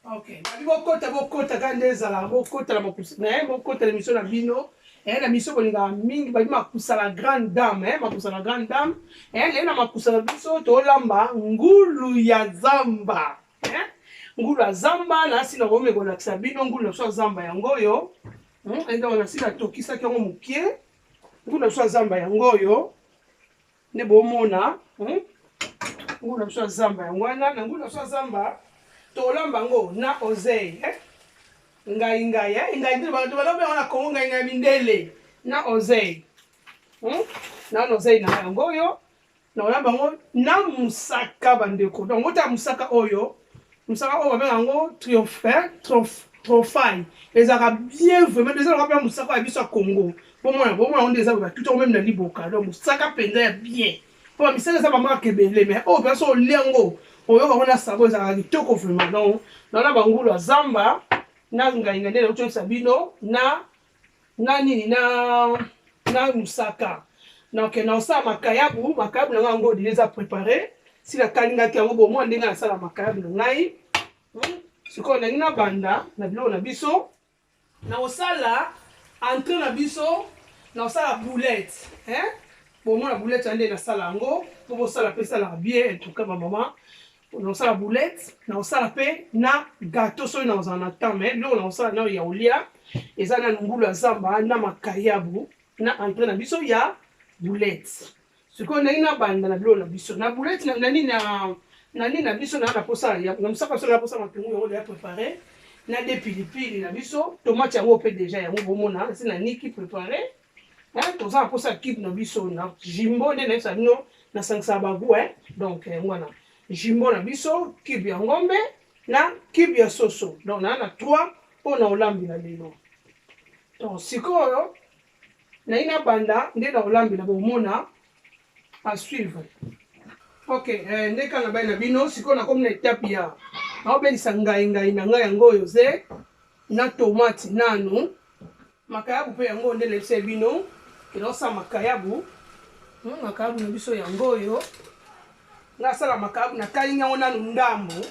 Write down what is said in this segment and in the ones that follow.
Okay. Babi bokota bokota kaka nde ezala bokota na makusa na ye bokota na miso na bino eh, na miso kolingaka mingi babi makusa na grande dame eh, makusa na grande dame eh, leye na makusa na biso tolamba ngulu ya zamba eh? ngulu ya zamba nasi nakomi kolakisa bino ngulu na biso ya zamba yango oyo hmm? ende wana si natokisaki yango mokie ngulu na biso ya zamba yango oyo nde bomona hmm? nguna biso ya zamba yango wana na nguna biso ya zamba tolamba yango na ozei eh? ngai ngai eh? ngai nde bato balobi yango na kongo ngai ngai mindele na ozei hmm? na wana ozei na yango oyo na olamba yango na mosaka bandeko donc ota mosaka oyo Mosaka oyo babengaka yango triomphe trophai ezalaka bien vraiment eza lokola mpe mosaka ya biso ya congo bomona bomona yango nde eza batuti yango meme na liboka donc mosaka mpenza ya bien mpo bamisaka eza bamaka ebele mais oyo mpenza so olia yango oyoka yango na sabo ezalaka kitoko vraiment donc naona bangulu ya zamba na ngainga nde nauti oyebisa bino na na nini na na mosaka donc naosala makayabu makayabu na ngai yango odile eza prépare si nakalingaki yango bomwa ndenge nasala makayabu na ngai hmm? sikoyo nalingi nabanda na biloko na biso naosala entre na biso naosala boulette bomona boulette ya nde nasala yango mpo bosala mpe esalaka bien en tout cas bamama nakosala boulette nakosala mpe na gato soki nakozala na temps mai biloko nakosala nayo ya olia eza na ngulu ya zamba na makayabu na entre na biso ya boulette sikoyo ndenge nabanda na biloko na biso na boulette na nini na na nini na biso naa na posa na mosaka soki naposa matungu yango deya prépare na de pilipili na biso tomate yango mpe deja yango bomona esi na niki prépare Hein, toza na posa kid na biso na jimbo nde nayebisa bino nasangisaka bagu hein? donc yango eh, wana jimbo na biso kibe ya ngombe na kibe ya soso donc naa na trois mpo na olambela lelo donc sikoyo nayi nabanda nde na olambela bomona a suivre ok eh, nde kaka nabai na bino sikoyo nakomi na etape ya naobelisa ngai ngai na ngai yango oyo ze na tomate nanu Makayabu pe yango nde nayebisaki bino ke naosala makayabu. Hmm, makayabu na biso yango oyo. Nga asala makayabu nakalingi yango nanu ndambu.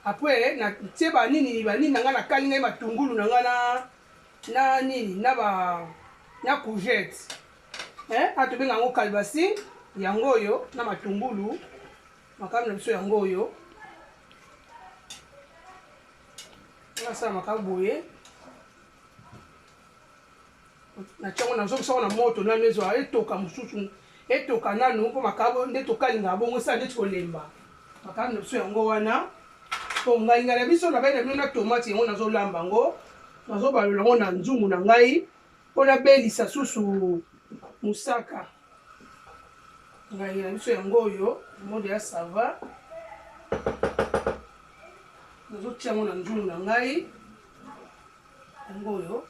Apres natie banini banini na nga nakalingi ngai matungulu na nga na na nini na ba na courgette eh, a tobenga yango kalbasi yango oyo na matungulu makambo na biso yango oyo nasala maka boye natyango nazongisa ngo na moto nanu ezwa etoka mosusu etoka nanu mpo makabo nde tokalinga bongo esala ndeti kolemba makabo na biso yango wana mpo ngainga na biso na bai na bino na tomate yango nazolamba yango nazobalola yango na nzungu na ngai mpo nabelisa susu mosaka ngai na biso yango oyo mode ya sava nazotia yango na nzulu na ngai yango oyo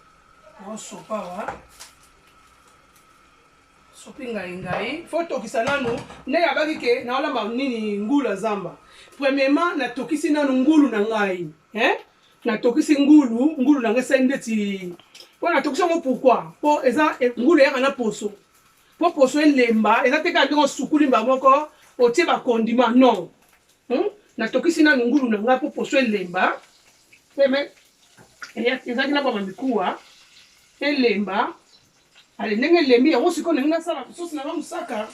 naosopa wa sopi ngai ngai fo tokisa nanu nde nabaki ke naolamba nini ngulu ya zamba premièrement natokisi nanu ngulu na ngai eh? natokisi ngulu ngulu na ngai esali ndeti mpo natokisi yango pourkui mpo eza e, ngulu eyaka na poso mpo poso elemba eza te kaka ndenge osukuli mba moko otie bakondima non hmm? natokisi nanu ngulu na ngai mpo poso elemba peme ezalaki na bama mikuwa elemba ale ndenge elembi yango sikoyo ndenge nasala sosi na nga mosaka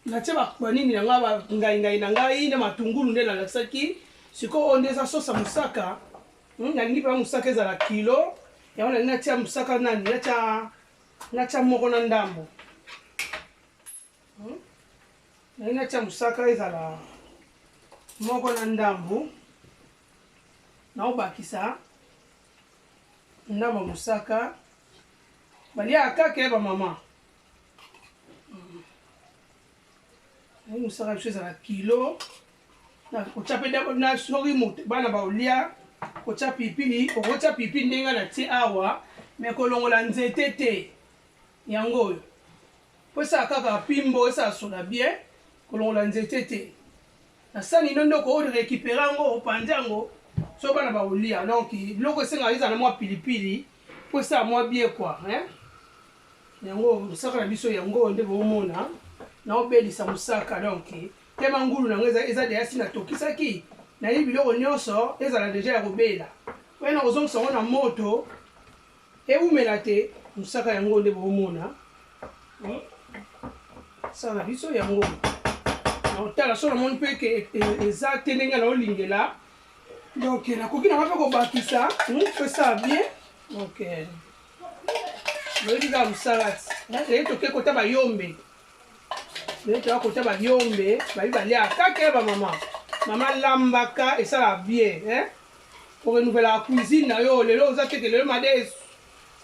natie banini na ngai bangaingai na ngai na matungulu nde nalakisaki sikoyo oyo nde eza sosa mosaka hmm, nalingi mpenza mosaka ezala kilo yango nalingi natia mosaka nani natia natia moko na ndambo hmm? nalingi natia mosaka ezala moko na ndambo naobakisa ndambo mosaka baliaka kaka ya bamama Yango mosala na biso ezala kilo na kotya mpe na soki moto bana baolia kotya pilipili okotya pilipili ndenge na tie awa me kolongola nzete te yango oyo mpo esala kaka pimbo esala sola bien kolongola nzete te Na sani ino nde oko recuperer yango opanzi yango soki bana bakolia donc biloko esengaka ezala na mwa pilipili mpo esala mwa bie kua hein? yango mosaka na biso yango oyo nde boomona naobelisa mosaka donc tema ngulu na yango eza, eza deja si natokisaki nayeli biloko nyonso ezala deja ya kobela oye nakozongisa yango na moto Ewumela te musaka yango nde bomona hmm? sala na biso yango naotala so namoni mpe ke eza te ndenge naolingela donc nakoki nanga mpe kobakisa pesala hmm? bien donc oyebi kaka mosala ti eye toke kota bayombe eye toya kota bayombe babi baliaka kaka ya bamama mama lambaka esalaka bien o renouvelaka cuisine na yo lelo oza teke lelo madesu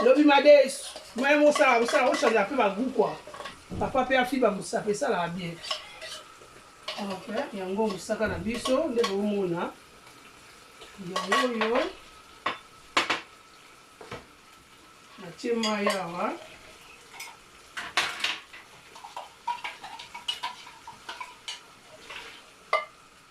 lobi madesu maya mosala kosala ochange mpe bagu kua papa mpe afiba mosape esalaka bien yango mosaka na biso nde bomona yango oyo natie mai awa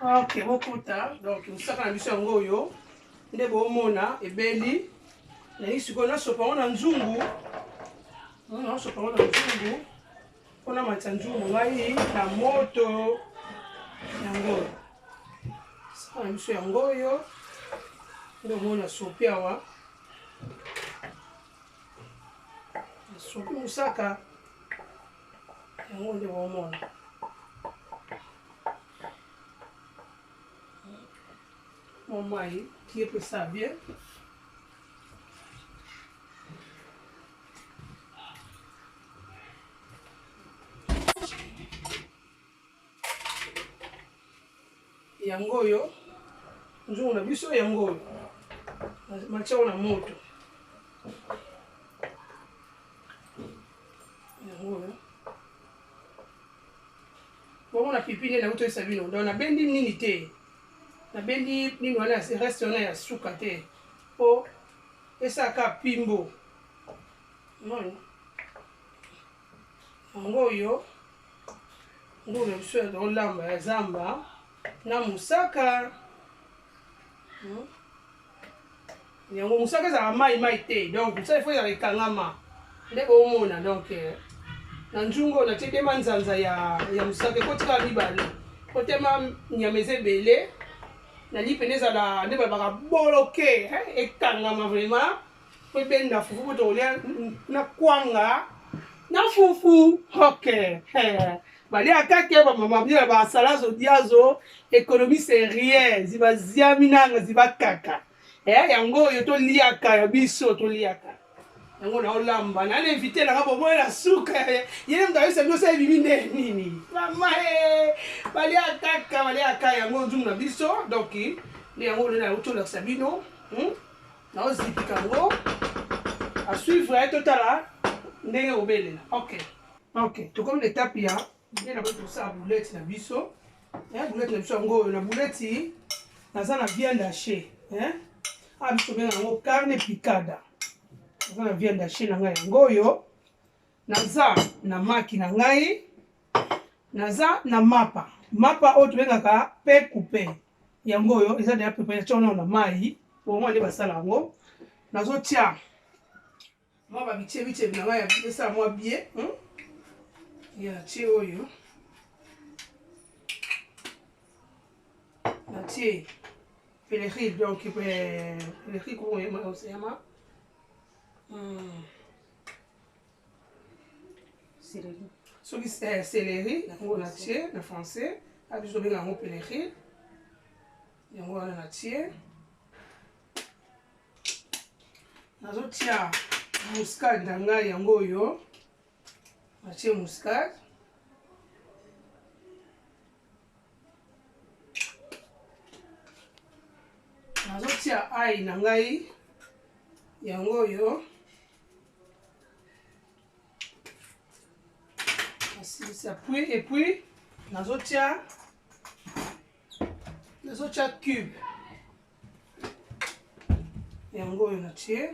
ok bokota donc mosaka na biso yango oyo nde bomona ebeli nalingi sikoyo nasopa yango na nzungu hmm, nasopa yango na nzungu mpo namatisa nzungu ngai na moto yango mosaka na biso yango oyo nde omona sopi awa sopi mosaka yango nde bomona mamai ye pesa bien yango oyo nzungu na biso yango oyo matiako na moto yango oyo bomona pipi nde nauti oyesa bino donc nabendi nini te nabendi nini wana reste wana ya suka te mpo esalaka pimbo moni yango oyo Ngulo na biso ya olamba ya zamba na mosaka hmm? yango mosaka ezalaka mai mai te donc mosaka ifo ezala ekangama nde boomona donc eh, na nzungu oyo natie tema nzanza ya, ya mosaka ekotika mibale kotema nyama eza ebele nali mpena ezala nde balobaka boloke eh, ekangama vraiment Pe pe na fufu kutu olia na kwanga na fufu ok baliaka te bamama bino na basalazo diazo ekonomi serie ziba ziami nanga ziba kaka eh, yango oyo toliaka ya biso toliaka yango naolamba na na invité nanga boboye na suka yene moto ayebisa biso ebimi nde nini mama eh, baliaka kaka baliaka yango nzumu na biso donc nde yango olona yango tolakisa bino hmm? naozipika yango asuivre ye totala ndenge obelela ok ok tokomi na etape ya nde na boi tosala boulete na biso eh, boulete na biso yango oyo na bouleti naza na viande hache eh? a ah, biso benga yango carne picada naza na viande hache na ngai yango oyo naza na maki na ngai naza na mapa mapa oyo tobengaka pe coupe yango oyo eza deja preparation nao na mai bongo nde basala yango nazotia mwa babicebicebi na ngai ya esala mwa bie hmm? ya natie oyo natie peleril donc peleril kokoyema oseyama hmm. soki eh, celeri yango na tie na français abi tobenga yango peleri yango wana na tie nazotia muscade na ngai yango oyo natie muscade nazotia ai na ngai yango oyo nasilisa puis et puis nazotia nazotia cube yango oyo natie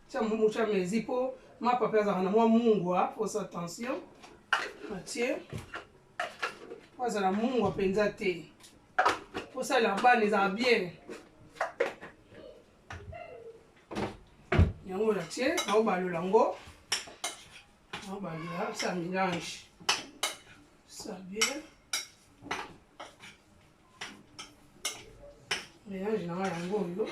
tia mbumu tia mezi mpo mapa mpe azalaka na mwa mungwa posa tension natie po azala mungwa mpenza te kosalela bana ezala bien yango na tie naobalola yango naobalola sa mélange sa bien mélange na ngai yango oyo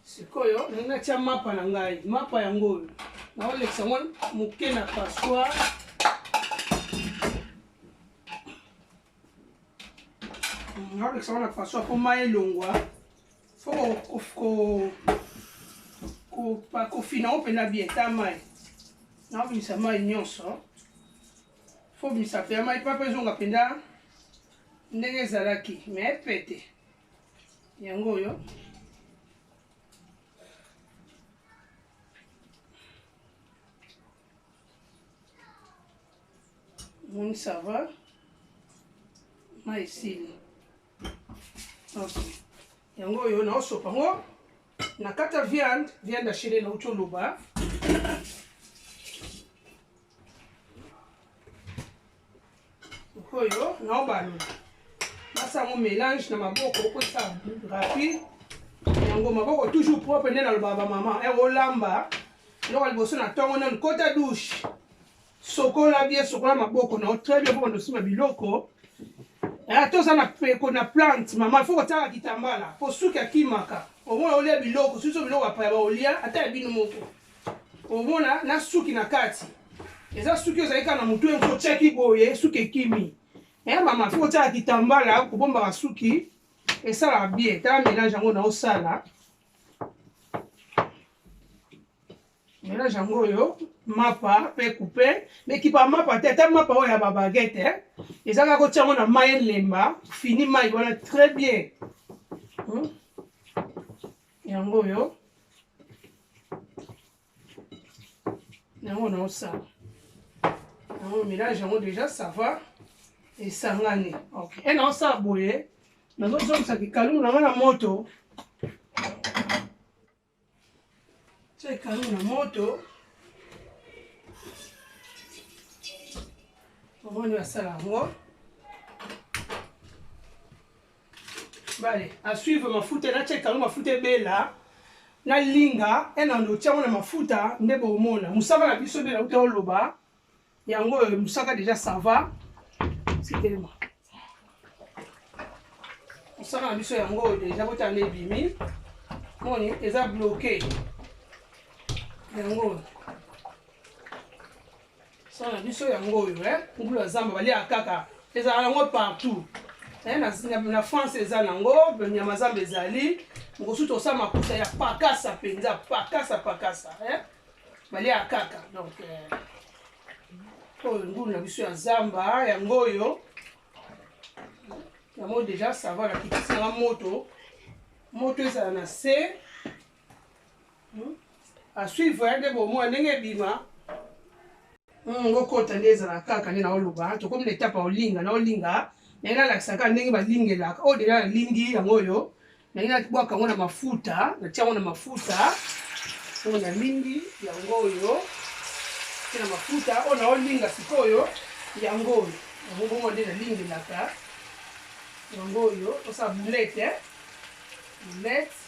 sikoyo nangi natya mapa na ngai mapa yango oyo naolekisa yango moke na passoire nabekisa wana façon po mai elongwa fo kofina yango mpenza bien ta mai naobimisa mai nyonso fo obimisa mpenza mai papa ezonga mpenza ndenge ezalaki me pete yango oyo Moni ça va mai esili yango oyo naosopa yango na kata viande viande achele nauti oloba oyo naobalola basa yango mélange na maboko okosa rapide yango maboko toujours propre nde nalobaka bamama eh, olamba eloko liboso na ntongo nanu kota douche sokola bie sokola maboko nao très bien mpo bandosima biloko eh, toza na peko na plante mama ifo kotiaka kitambala mpo suki akimaka omona olia biloko suso biloko apaya baolia ata ya bino moko omona na suki na kati eza suki ozali kaka na motu yango otyaki boye suki ekimi e eh, mama mpo otyaka kitambala kobombaka suki esalaka bie tala mélange yango na osala mélange yango oyo mapa mpe coupe mekipa mapa te ata mapa oyo ya babagete eh. eza kaka kotya yango na mai elemba fini mai wana très bien hmm? yango oyo yango naosala yango mélange yango déjà ça va esangani ok e naosala boye nazozongisa kikalumu na nga na moto tya kikalumu na moto omoni basala yango bale a suivre mafuta na check yango mafuta ebela na linga ena ndo tiango na mafuta nde bomona musaka na biso bela uta oloba yango oyo musaka deja sava sitelema musaka na biso yango oyo deja bota nde ebimi moni eza bloke yango oyo Son na biso yango oyo eh ngulu ya zamba balia kaka ezala yango partout eh na, na, na France eza nango nyama zamba ezali mokosusu tosala makuta ya pakasa mpenza pakasa pakasa eh balia kaka donc eh, oyo ngulu na biso ya zamba yango oyo yango deja sava na kitisi nanga moto moto ezala na se Hmm? asuivre ya nde bomoi ndenge ebima hmm, ngokota nde ezala kaka nde naoloba tokomi na etape olinga na olinga naye nalakisaka ndenge balingelaka oyo oh, deja nalingi yango oyo naye nabwaka yango na mafuta natia yango na mafuta oyo oh, nalingi yango oyo te na mafuta oyo oh, naolinga sikoyo yango oyo yango bongo nde nalingelaka yango oyo osala boulete boulete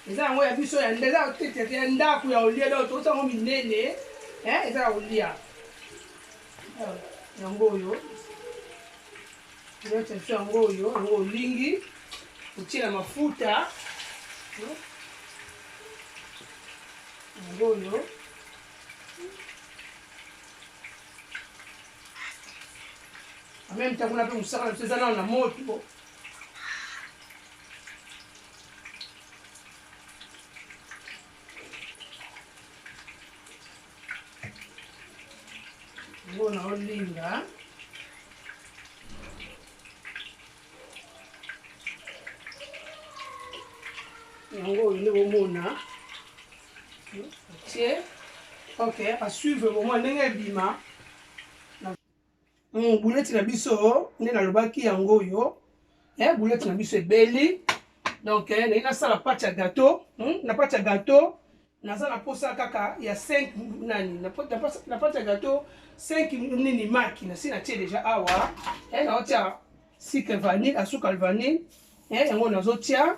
eza yango ya biso ya eza tetete ya ndako ya olia donc tokosa yango minene eza ya olia yango oyo nyonso biso yango oyo yango olingi otyela mafuta yango oyo ameme ntango na mpe mosaka na biso eza nano na moto bona olinga yango oyo nde bomona otie ok asuivre bomona ndenge ebima Mm, buleti na biso nde nalobaki yango oyo eh, buleti na biso ebeli donc eh, naye nasala pati ya gato hmm? na pati ya gato naza na posa kaka ya 5 nani na pati ya gato 5 nini maki nasi natie deja awa eh, naotia sucre vanille asuka vanille eh, yango nazotia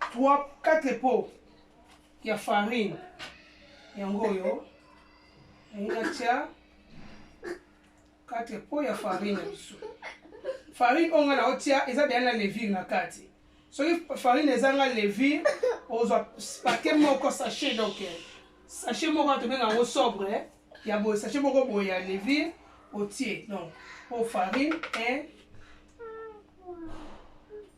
3 4 po ya farine yango oyo nalingi natya 4 po ya farine ya biso farine oyo ngai naotya eza deya na levire na kati soki farine ezanga levire ozwa pake moko sachet donc sachet moko tobenga yango sobre ya boye sachet moko boye ya levire otie donc po farine 1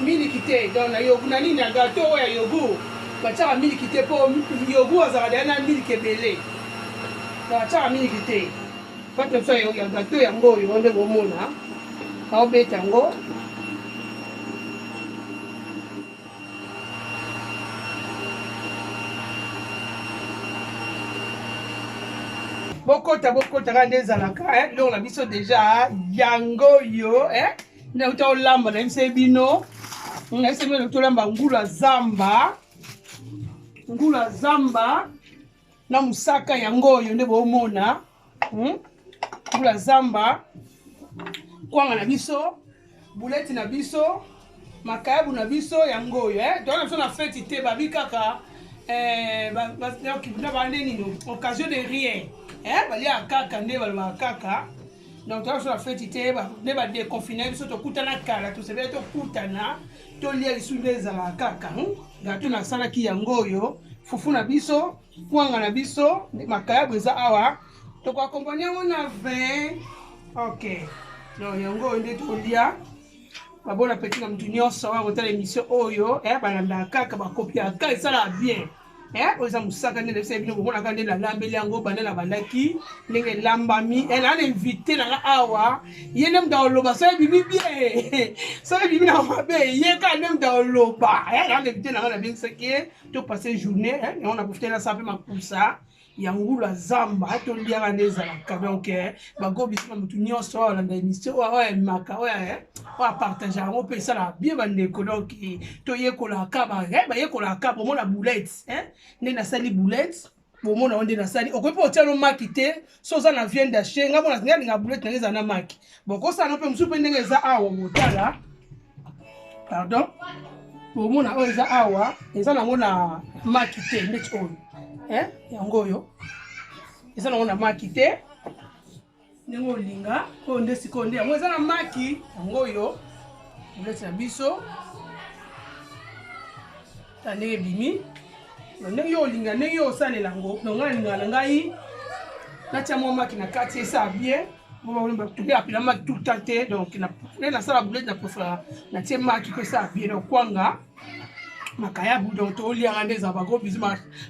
miliki te donc na yogu na nini na gato oyo ya yogu batiaka miliki te mpo yogu azalaka deya na miliki ebele batiaka miliki te pate biso ya gato yango oyo ngo nde bomona aobeta yango bokota bokota kaka nde ezalaka eh, biloko na biso deja ah, yango yo eh, nauta olamba na biso bino na biso bino tolamba ngulu ya zamba ngulu ya zamba na mosaka yango oyo nde bomona hmm? mbula zamba kwanga na biso buleti na biso makayabu na biso yango oyo eh? toyana biso na feti te babi kaka eh, na bande nini occasion de rien eh? baliaka kaka nde balobaka kaka donc toyana biso na feti te nde badeconfine biso tokutana kala tosepeli tokutana toli ya lisu nde ezalaka kaka hmm? gato nasalaki yango oyo fufu na biso kwanga na biso nde makayabu eza awa tokoakompani yango na vin ok donc yango oyo nde tolia babona peti na motu nyonso oyo akotala émission oyo eh, balandaka kaka bakopiaka esalaka bien eh, oyo eza mosaka nde nayebisa bino bomonaka nde nalambeli yango banda nabandaki ndenge elambami eh, naa na invité nanga awa ye nde moto aoloba soki ebimi bie soki ebimi na mabe ye kaka nde moto aoloba eh, naa na invité nanga nabengisaki ye to passe journée yango na profite nasa mpe makusa ya ngulu ya zamba atoliaka nde ezalaka donc eh, bagobisaka motu nyonso oyo alanda émission oyo oyo emaka oyo eh, oyo apartage yango mpe esalaka bie bandeko donc eh, toyekolaka kaba bayekolaka kaba omona boulette nde nasali boulette bomona yo nde nasali okoki mpe otya no maki te so oza na vienne dache ngai mona ngai alinga boulette nange ezala na maki bokosala no mpe mosusu mpe ndenge eza awa botala pardon bomona oyo eza awa eza nango na maki te ndeti oyo eh, yango oyo eza nango na maki te ndenge olinga oyo nde sikoyo nde yango eza na maki yango oyo boleti na biso ta ndenge ebimi ndenge yo olinga ndenge yo osalela yango nonga alingaka na ngai natya mwa maki na kati esala bien apela maki tout temps te donc nde nasala boulete na preferaka natie maki mpe esala bien donc kwanga makayabu donc toliaka nde eza bako bizu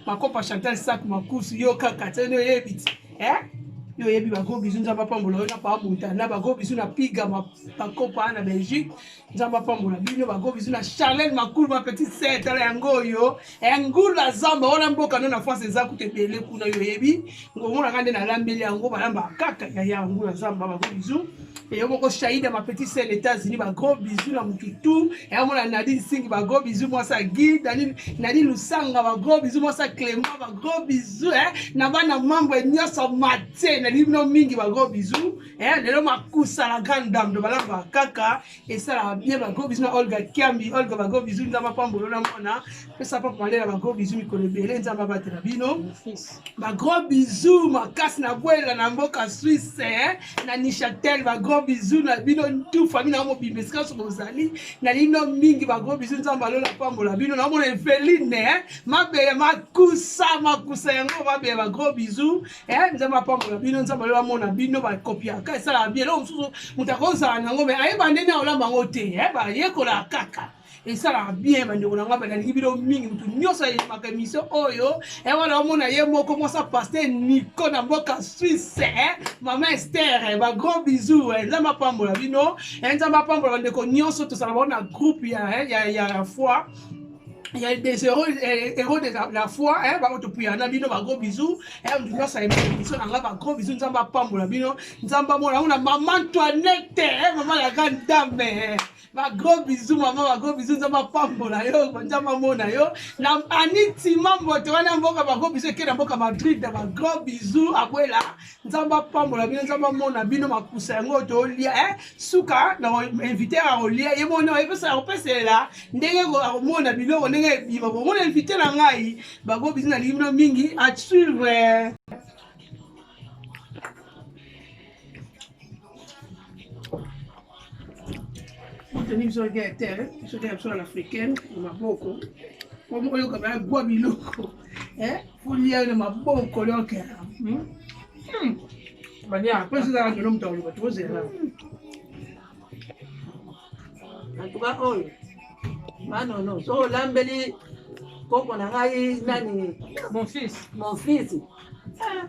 makopa chantal sak makusu yo kaka te nde oyebi ti yo oyebi bako bizu nzambe apambola yo na paa montana bako bizu na piga bakopa na belgique nzambe apambola bino bago bizu na charlene makulu ma petite sœur tala yango oyo eh, ngulu ya zamba wana mboka no na france eza kutu ebele kuna yo oyebi ngomonaka nde nalambeli yango balamba kaka yaya ngulu ya zamba bago bizu eyo moko shaida ma petite sœur na états-unis bagros bizu na mututu eyamona nadine singi bagros bizu mwasi ya gi nadine lusanga bagros bizu mwasi ya clément bagros bizu eh, na bana membre nyonso matie nalingi bino mingi bagros bizu eh, lelo makusa la grande dame to balamba kaka esalaka bien bagro bisu na olga kiambi olga bagro bisu nzambe apambolo na mwana pesa papa malela bagro bisu mikolo ebele nzambe abatela bino bagro bisu makasi na bwela na mboka swisse eh, na nishatel bagro bisu na bino tu famille na mobimba esika so bozali na lino mingi bagro bisu nzambe alola apambola bino naomona eveline eh, mabele makusa makusa yango mabele bagro bisu eh, nzambe apambola bino nzambe oyo amona bino bakopiaka esalaka bie eloko mosusu moto akozala nango me ayeba ndenge akolamba yango te eh, bayekolaka kaka esalaka bien bandeko na ngai nalingi bino mingi motu nyonso ayemaka émission oyo eh, wana omona ye moko mwasa paster nico na mboka suisse eh, mama ester eh, bagros bisou nzambe apambola bino nzambe apambola bandeko nyonso tozala bango na groupe ya, ya, ya, ya foi Il y a des héros, eh, héros de la, la foi, hein, ba oto puyana bino ba gros bisous, hein, on doit ça aimer bisous, on a ba gros bisous, nzamba pambola bino, nzamba mona, on a maman Antoinette, hein, maman la grande dame, hein. ba gros bisous maman, ba gros bisous nzamba pambola yo, nzamba mona yo, na Annie Timambo, to wana mboka ba gros bisous, kena mboka Madrid, ba gros bisous, abuela, nzambe apambola bino nzambe amona bino makusa yango tolia eh? suka na invité akolia ye moni epesa akopeselela ndenge akomona biloko ndenge ebima bomona invité na ngai bango bizi nalingi bino mingi asuivre tenir biso ya terre biso te ya biso na africaine na maboko comme oyoka baya gwa biloko folia na maboko lioka apres ezalaka ndelo moto akoloba tozela antuka oyo manono so olambeli koko na ngai nani mon fils mon fils ah.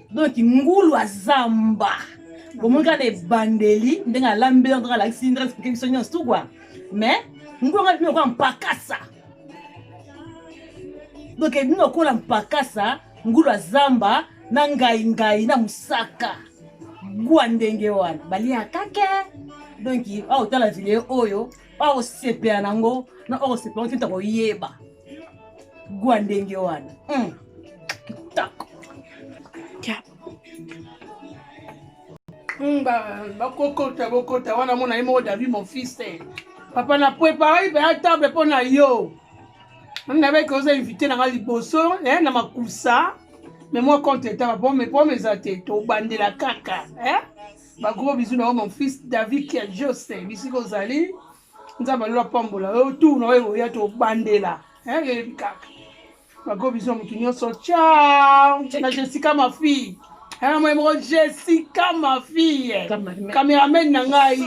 donc ngulu aza mba bomoni kaka na ebandeli ndenge alambeli ndenge alakisi ndenge explike biso nyonso tu kua mais ngulu anga bino lokola mpakasa donc bino lokola mpakasa ngulu azamba na ngai ngai na mosaka gwa ndenge wana baliaka ke donki aotala video oyo okosepela nango na okosepela ngo tinta koyeba gwa ndenge wana hmm. kitoko hmm, bakokota bokota wana mona ye moko david mon fils eh. papa na prepare mpe ya table mpo na yo nabeki oza invité na ngai liboso eh, na makusa me mwa compte etaba po me po meza te tobandela kaka eh? ba gros bisous na yo mon fils david kiajose bisika ozali nzambe alola pambola yo tour na oyo ekoya tobandela eyebi kaka ba gros bisous ya motu nyonso ciao na jessica ma fille ena moye moko jessica ma fille cameraman na ngai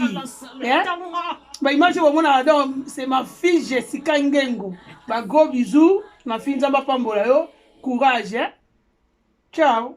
baimage bomonaka donc c'est ma fille jessica ngengo ba gros bisous ma fille nzambe apambola yo courage ciao